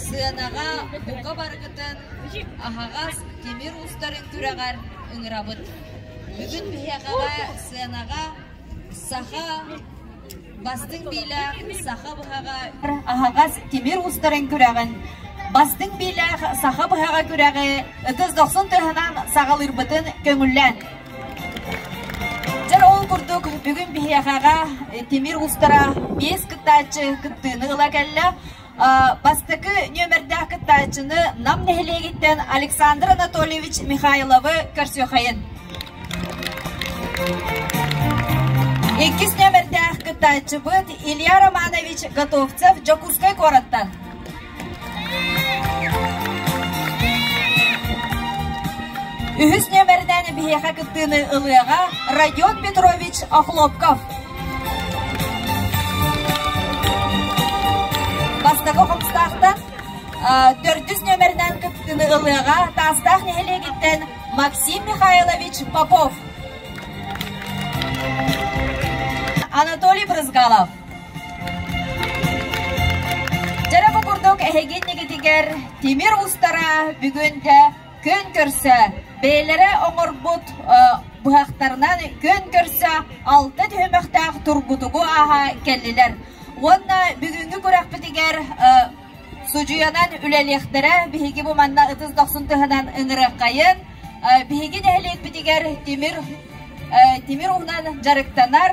Сыанаҕа бука барыгытын аһаҕас тимир устарын күрэҕэр ыҥырабыт. Бүгүн биһиэхэҕэ сыанаҕа саха бастыҥ биилээх саха быһаҕа аһаҕас тимир устарын күрэҕин бастыҥ биилээх саха быһаҕа күрэҕи ытыс дохсун тыаһынан саҕалыырбытын көҥүллээн дьэр ол курдук бүгүн биһиэхэҕэ тимир устара биэс кыттааччы кыттыыны ыла кэллэ Бастакы нүөмэрдээх кыттааччыны Нам нэһилиэгиттэн Александр Анатольевич Михайловы көрсүөхэйин. Иккис нүөмэрдээх кыттааччыбыт Илья Романович Готовцев Дьокуускай куораттан. Үһүс нүөмэринэн биһиэхэ кыттыыны ылыаҕа Родион Петрович Охлопков. Бастакы хомстаахтан төрдүс нөмеринэн кыттыыны ылыаҕа Таастаах нэһилиэгиттэн Максим Михайлович Попов. Анатолий Брызгалов. Дьэрэ бу курдук эһиги иннигитигэр тимир устара бүгүнтэ Күн көрсө бэйэлэрэ оҥорбут быһахтарынан күн көрсө алта түһүмэхтээх тургутугу ааһа кэллилэр уонна бүгүҥҥү күрэхпитигэр судьуйанан үлэлиэхтэрэ биһиги бу манна ытыс дохсун туһанан ыҥырыаххайын биһиги нэһилиэкпитигэр тимир тимир уунан дьарыктанар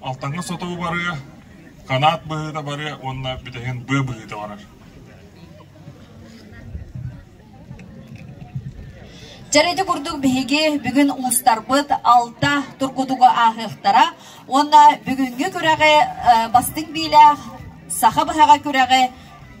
Алтаҥҥа соту барыа, канаат быһыыта барыа уонна бүтэһин быа быһыыта барар Дьэр ити курдук биһиги бүгүн уустарбыт алта тургутугу ааһыахтара уонна бүгүҥҥү күрэҕи э, бастыҥ биилээх саха быһаҕа күрэҕи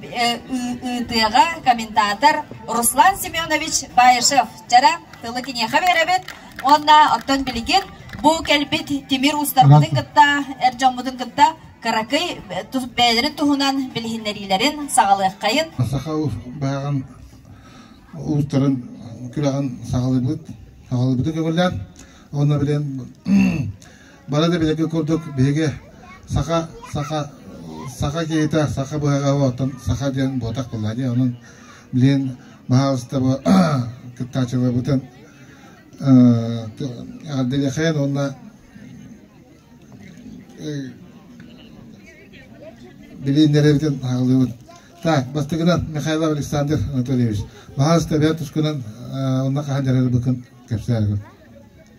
ыытыаҕа комментатор Руслан Семенович Баишев. Чара тылы киниэхэ биэрэбит уонна оттон билигин бу кэлбит тимир уустарбытын кытта эр дьоммутун кытта кыракый бэйэлэрин туһунан билиһиннэриилэрин саҕалыаххайын. Саха баҕаҕын уустарын күрэҕин саҕалыыбыт саҕалыыбытын көҥүллээн уонна билэн Бары да билэргэ курдук биһиги саха саха саха киһитэ саха быһаҕаҕа оттон саха диэн буотах буолла дии онон билин баһаалыстаба кыттааччыларбытын Ардылихен уонна билииннэрэбитин аҕалыыбын. Так, бастыгынан Михаил Александр Анатольевич, баһаалыста бэйэ тускунан онна хаһан дьарыгы быкын кэпсээргин.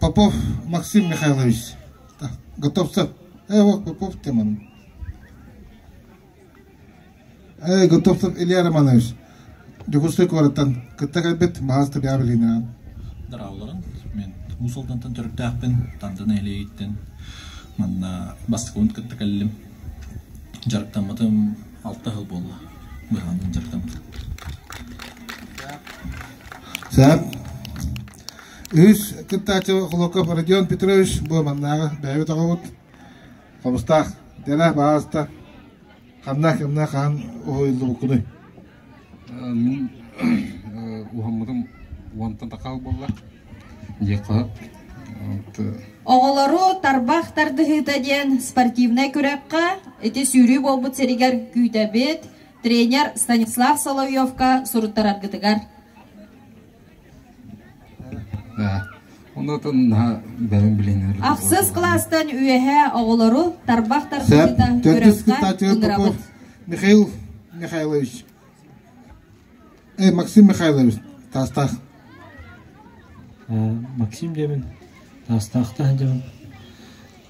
Попов Максим Михайлович, готовься. Э, Попов Теман. Э, готовься Илья Романович. Дьокуускай куораттан кытта кэлбит маҕаас табиабилиниран. Дараалларын мен Мусалдантан төрүттээхпин, Тантан Элейиттен манна бастакыбын кытта кэллим. Дьарыктаммытым алта хыл буолла. Быһаанын дьарыктаммытым. Сап. Үс кыттааччы Холоков Родион Петрович бу маннааҕы бэйэбит оҕобут хомустаах тена бааста ханнаах кимнээх хаһан уһуйуллубуккунуй мин уһаммытым уонтан такаал буолла диэххэ Оҕолору тарбах тардыһыыта диэн спортивнай күрэххэ ити сүүрүү буолбут сиригэр күүтэбит тренер Станислав Соловьевка суруттараргытыгар Ахсыс кластан үөһэ оҕолору тарбах тардыыта көрөххө Михаил Михайлович Эй, Максим Михайлович, таастаах. Максим дебин, таастаахтаах дебин.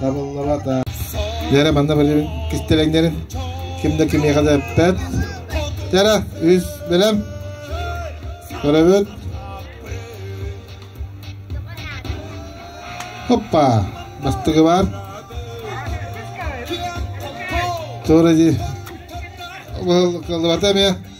Табыллара да. Дээрэ, манна бөлүн кистелеңнерин ким да кимиэхэ да эппэт. Дээрэ, үс бэлэм. Көрөбүт. Хоппа. Бастыгы бар. Тура ди. Кылыбата ме.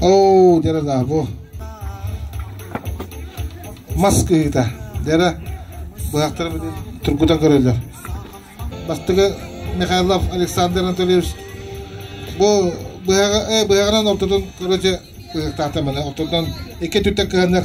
Оо, дэрэ даа бу мас кыһыыта. Дэрэ быһахтара тургутан көрөллөр. Бастыгы Михайлов Александр Анатольевич бу быһаҕа быһаҕынан ортотун короче быһахтаата маны ортотунан икки өттүттэн кыһаннар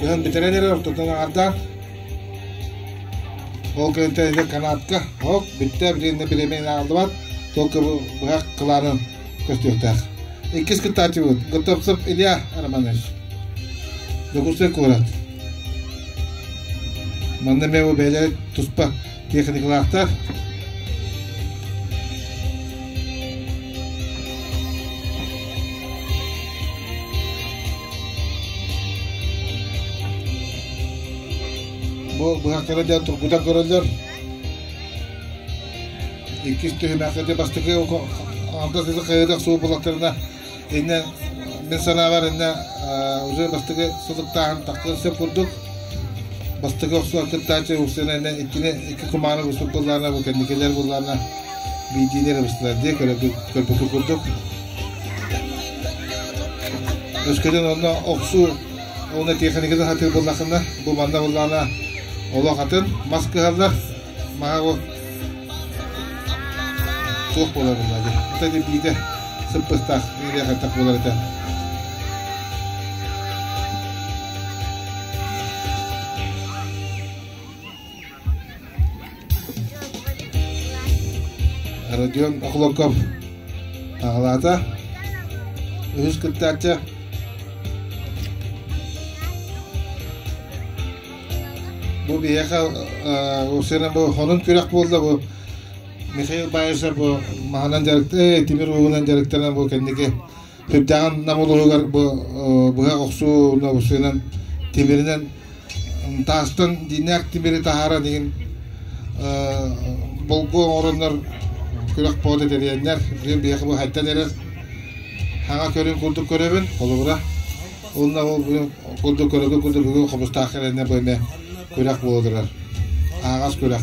Кыһын бүтэрэн эрэр ортотун аҥаардаан ол кэнниттэн эдэр канатка оп бүттэ билиннэ бириэмэни аҕалбат толку быһах кылаанын көстүөхтээх. Иккис кыттааччыбыт Готовцев Илья Романович. Докусай куорат. Манна меwe бэйэлэр туспа Техникалаахтар. Бу быһахтара да тургута көрөллөр. Иккис түһүмэхтэрде бастакы алга кызы хайыдах суу булаттарына иннэ мин санаабар иннэ уже бастакы сутуктааһын тахкан сөп курдук бастакы охсуга кыттааччы устана иннэ иккини икки кумааны быстык булларна бу кэнникилер булларна биидиилер быстылар дии көрбөтүк курдук өскөтүн онно охсуу уна техниканы хатыр буллахына бу манна буллана олох атын мас кыһаллар маһа Туох буолар булла дии. Ата кирдиитэ сыппыстаах ириэ хаттах буолар этэ. Родион Охлоков аҕалаата. Үһүс кыттааччы Бу биһиэхэ Усина бу хонун күрэх буолла бу Михаил Баишев бу маһынан дьарыктан тимир ууһунан дьарыктанан бу кэнники Үрдээҕин Нам улууһугар бу быһах охсууна Усинан тимиринэн таастан динээх тимири таһааран игин болго оҥороннор күрэх поода тэрийэннэр биһиэхэ бу хайтан эрэр хаҥа көрүн курдук көрөбүн холобура Уонна ол курдук көрөргө курдук бүгүн хомустаах кэлэннэ бу эмэ күрэх буола турар. Аҕас күрэх.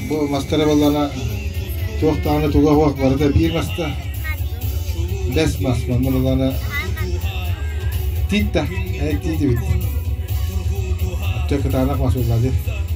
Бу мастара баллана туох дааны туга хуах барыта биир маста. Бэс мас манна баллана тиитта. Эт тиити бит. Төк таанах масуллады.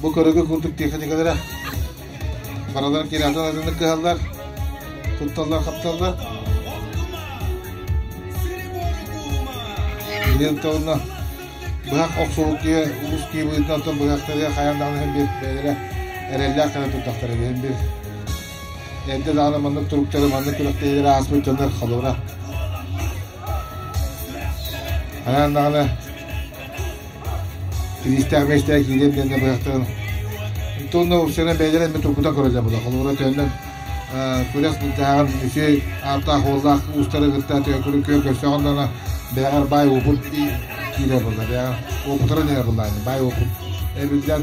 Бу көрүгү курдук тиэхиньикэлэрэ бараларын кириатан атыннык кыһаллар, тутталлар, хапталлар. Билиэн тылына быһах охсубут киһи улус киһи быытынан тон быһахтарыгар хайан даҕаны бир бэйэлэрэ эрэллээх гана туттахтар ини бир эрдэ даҕаны маннык туруктары маннык күрэхтэһиилэр ааспыт дьоннор халыра Анан даҕаны Киристээх миэстээх киирэн кэннэ быһахтан Итонно уксанан бэйэлэрин эмиэ тургута көрөллөр була. Холобура төннөн күрэх бырдаһаҕын үсү ааттаах уоллаах уустары кытта төкүрү күө көрсөҕөн дана бэйэҕэр бай уопут киирэ була. Бэйэҕэр уопутара дэнэ була. Бай уопут эбиллэн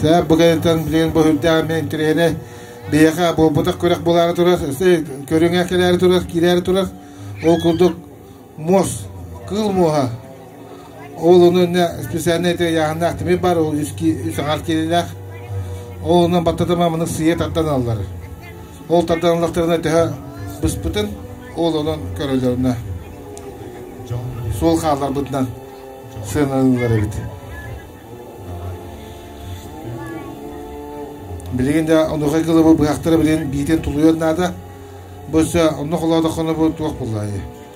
Саар бу кэнниттэн билигин бу үрдээҕин интэриэһинэ биһиэхэ буолбутах күрэх булаары турар, көрүҥэ кэлээри турар, киирээри турар. Ол курдук муос, кыыл муоһа оҕолорну өннө специальнай аяхыннаах тимир бар, ол үс аҥар киилилээх. Ол онон баттатыма маны сыйа тартан аллар. Ол тарданаллахтарына төһө быспытын ол онон көрөллөрүнэ суол хаалларбытынан сыаналыыллар эбит. Билигин да онуохай кылыбы быһахтара билин биитин тулуйуон наада. Бу өссө онно холоодохоно бу туох буллаайы.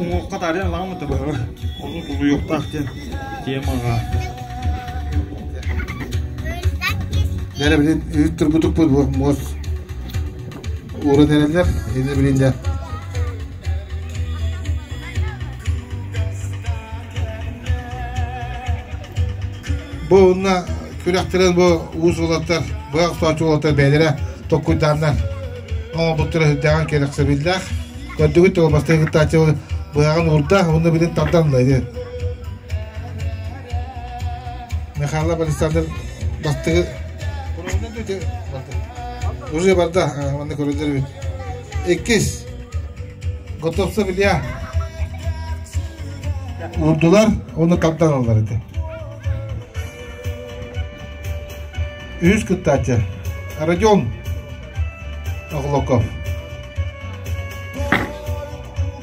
уҥуохха таарыйан ылаҕын мата быһа ону булуйуохтаах диэн тиэм аҕаа Дәрэ билин үүт турбутукпут бу муос ууран эрэллэр ини билинлэр бу онна күрэхтэрин бу уус уолаттар бу охтоочу уолаттар бэйэлэрэ tokkуйдааннар оҥорбуттара үрдээҕин кэрэхсэбиллээх көрдүгүт ол бастакы кыттааччы быһаҕын уурда уонна билин тарданнайды михаил александр бастыгы уже барда манна көрөлөр эбит иккис готовса билия урдулар оны тардалалар ити үһүс кыттааччы родион Оҕолоко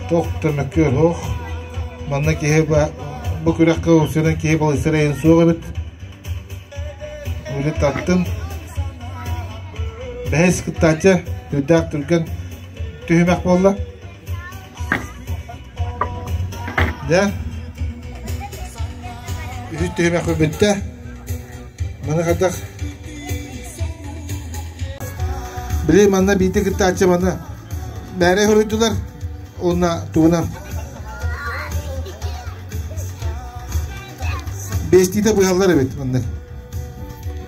туох да мөккүөр суох. Манна киһи бу күрэххэ устунан киһи балыыстарайын суох эбит. Үлэ таттын. Бэһис кыттааччы үрдээх түргэн түһүмэх буолла. Да? Үһүс түһүмэхпэ бүттэ. Маны хадах Били манна биити кыттааччы манна бээре хоруйдулар уонна тугунан бестиде быһаллар эбит маннык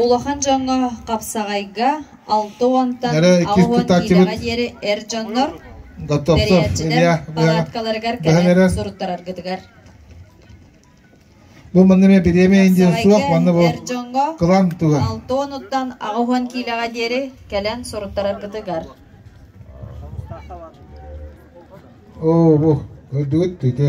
Улахан дьоҥҥо хапсаҕайга алта уонтан аҕыс уон киилэҕэ диэри эр дьоннор тэрийээччилэр палаткаларыгар кэлэн суруттараргытыгар Бу манна эмиэ бириэмэ индиэ суох манна бу кылаан туга. Алта уонуттан аҕыс уон киилэҕэ диэри кэлэн суруттараргытыгар. Оо бу көрдүгүт түйдэ.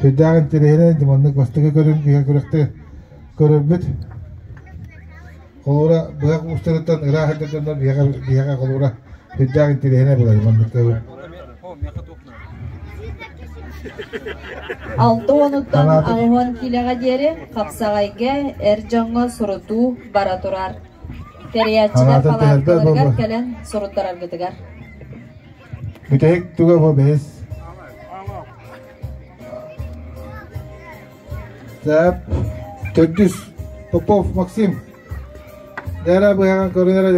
Сүрдээх интэриэһинэй, маннык бастакы көрүҥ иһэ күрэхтэр көрөрбүт. Холуура быһах уустарыттан ыраах эрдэ дьонно биһиэхэ биһиэхэ холуура сүрдээх интэриэһинэй былай маннык көрүҥ. Алта уонуттан аҕыһан килэҕэ диэри хапсаҕайга эр дьоҥҥо сурутуу бара турар. Тэрийээччилэр палаткаларыгар кэлэн суруттараргытыгар. Бүтэһик туга бу бэс Сап төрдүс Попов Максим Дара быһаҕан көрүнэрэ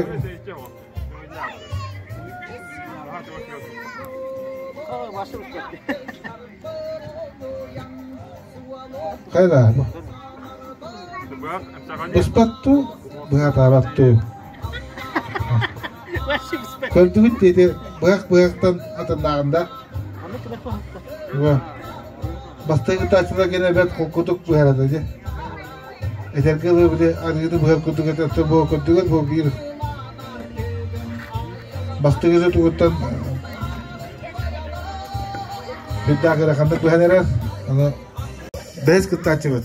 Кайда? Быспатту, быһатабатту. Көрдүгүт диэки быһах-быһахтан атыннааҕын да. Бастакы кытааччыларга эбэт кукутук быһарата дьэ. Этэргэ ылы били арыыны быһар курдугут өттө буо көрдүгүт бу биир. Бастыгыты тугуттан бирдааҕы ханнык быһан эрэр аны бэс кыттааччыбыт.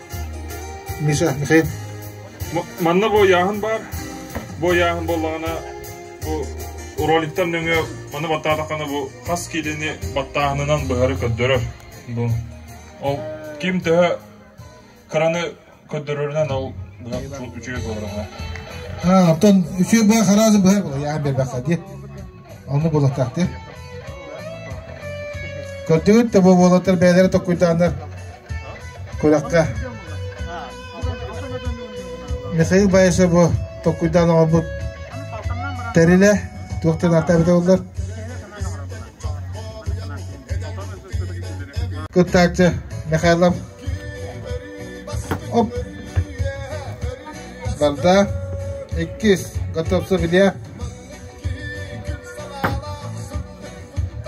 Миша, Михаил. Манна буойааһын баар. Буойааһын буоллаҕына бу роликтан нөҥүө маны баттаатаххына бу хас киилини баттааһынынан быһары көрдөрөр. Бу ол ким төһө хараны көрдөрөрүнэн ол быһа үчүгэй буолар. Ha, оттон үчүгэй быһа хараа быһа була яа бербаха диет. Ону булатаахтыыр. Көрдүгүн да бу уолаттар бэйэлэрэ токкуйдааннар күрэххэ Михаил Байышеву токкуйдаан оҥорбут тэрилэ туохтан ааттаабыта боллар кыттааччы Михайлов оп барда иккис готовцев илья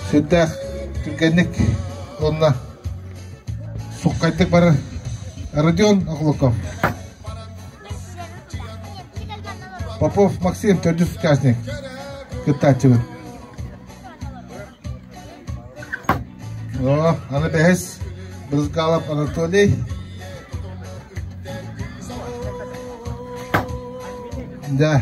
сирдээх түргэнник уонна суххайдык барар Родион Охлоков Попов Максим төрдүс участник кыттааччыбыт О, аны бэһис Брызгалов Анатолий да